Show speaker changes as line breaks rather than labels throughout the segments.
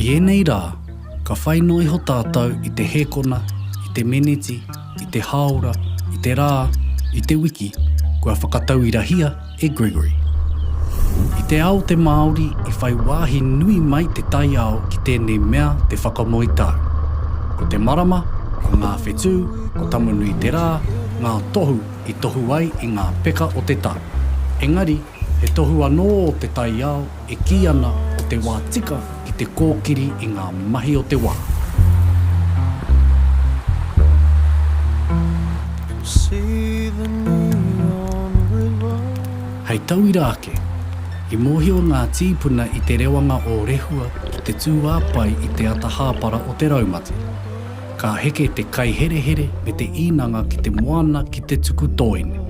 I ēnei rā, ka whai noa iho tātou i te hēkona, i te meneti, i te hāora, i te rā, i te wiki, kua whakatauirahia e Gregory. I te ao te Māori i whai wāhi nui mai te taiao ki tēnei mea te whakamoe tau. Ko te marama, ko ngā whetū, ko Tamu-nui-te-rā, ngā tohu i tohu ai i ngā peka o te tau. Engari, he tohu anō te taiao E kī ana ko te wā tika ki te kōkiri i ngā mahi o te wā. Hei tauira ake, i mōhio ngā tīpuna i te rewanga o Rehua ki te tūāpae i te ata hāpara o te raumati. Ka heke te kaiherehere me te īnanga ki te moana ki te tuku tōene.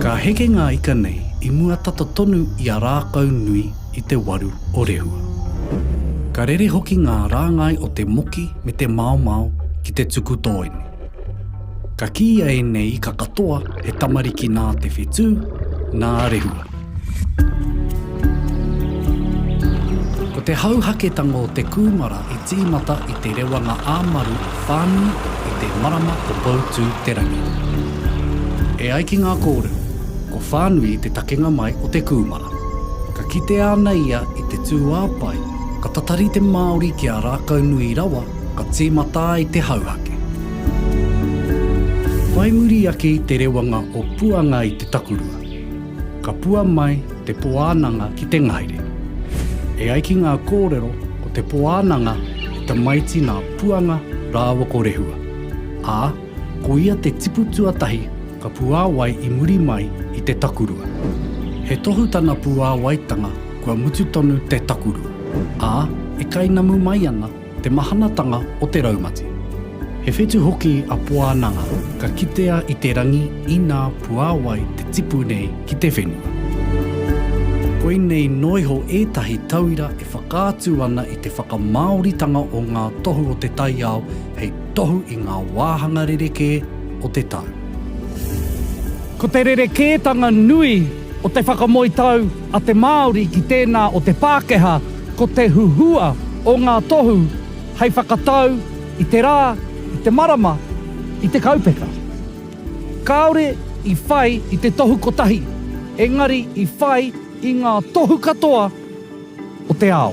Ka heke ngā ika nei i mua tata tonu i a Rākaunui i te waru o Rehua. Ka rere hoki ngā rāngai o te moki me te maomao ki te tuku tōene. Ka kīia e nei ika katoa he tamariki nā te whetū, nā Rehua. Ko te hauhaketanga o te kūmara i tīmata i te rewanga ā-maru o Whānui i te marama o Poutū-te-rangi. E ai ki ngā kōrero, ko Whānui te takenga mai o te kūmara. Ka kitea ana ia i te tūāpae ka tatari te Māori ki a Rākaunui rawa ka tīmata ai te hauhake. Whai muri ake i te rewanga o Puanga i te takurua, ka pua mai te Poānanga ki te ngahere. E ai ki ngā kōrero ko te Poānanga he tamaiti nā Puanga rāua ko Rehua, ā, ko ia te tipu tuatahi ka puāwai i muri mai i te takurua. He tohu tana puāwaitanga kua mutu tonu te takurua, ā, e kainamu mai ana Te mahanatanga o te raumati. He whetu hoki a Poananga ka kitea i te rangi inā puāwai te tipu nei ki te whenua. Koinei noiho ētahi tauira e whakaatu ana i te whakamāoritanga o ngā tohu o te taiao hei tohu i ngā wāhanga rerekē o te tau.
Ko te rerekētanga nui o te whakamoe tau a te Māori ki tēnā o te Pākehā ko te huhua o ngā tohu hei whakatau i te rā, i te marama, i te kaupeka. Kāore i whai i te tohu kotahi, engari i whai i ngā tohu katoa o te ao.